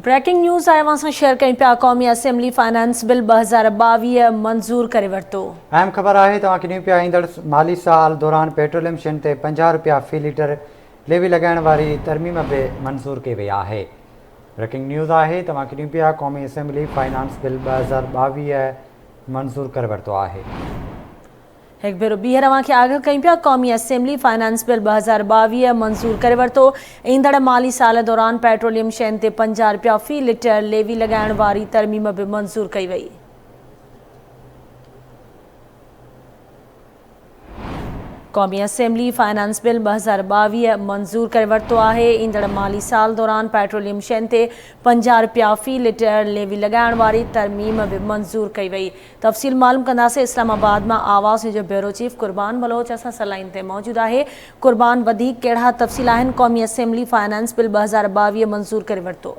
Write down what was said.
Breaking news آء اوهان سان شيئر ڪيون پيا قومي اسيمبلي فائنانس بل ٻه هزار ٻاويهه منظور ڪري ورتو اهم خبر آهي توهان کي ڏيون پيا ايندڙ مالي سال دوران پيٽروليم شين تي پنجاهه رپيا في ليٽر ليوي لڳائڻ واري ترميم به منظور ڪئي وئي آهي بريڪنگ نيوز آهي توهان کي ڏيون پيا قومي اسيمبلي فائنانس بل ٻه هزار ٻاويهه منظور ڪري ورتو آهي. هڪ ڀيرو ٻيهر اوهان کي آگاهه ڪيون پيا قومي اسيمبلي فنانس بل ٻه هزار ٻاويهه منظور ڪري ورتو ايندڙ مالي سال دوران پيٽروليم شين تي پنجاهه رپيا في لٽر ليوي لڳائڻ واري ترميم به منظور ڪئي وئي. قومي اسيمبلي فنانس بل ٻه هزار ٻاويهه منظور ڪري ورتو آهي ايندڙ مالي سال دوران پيٽروليم شين تي پنجاهه رپيا في لٽر ليوي لڳائڻ واري ترميم به منظور ڪئي وئي تفصيل معلوم ڪنداسين اسلام آباد مان آواز نيوز جو بيورو چيف قربان بلوچ اسان سان لائين تي موجود آهي قربان وڌيڪ ڪهڙا تفصيل آهن قومي اسيمبلي فنانس بل ٻه هزار ٻاويهه منظور ڪري ورتو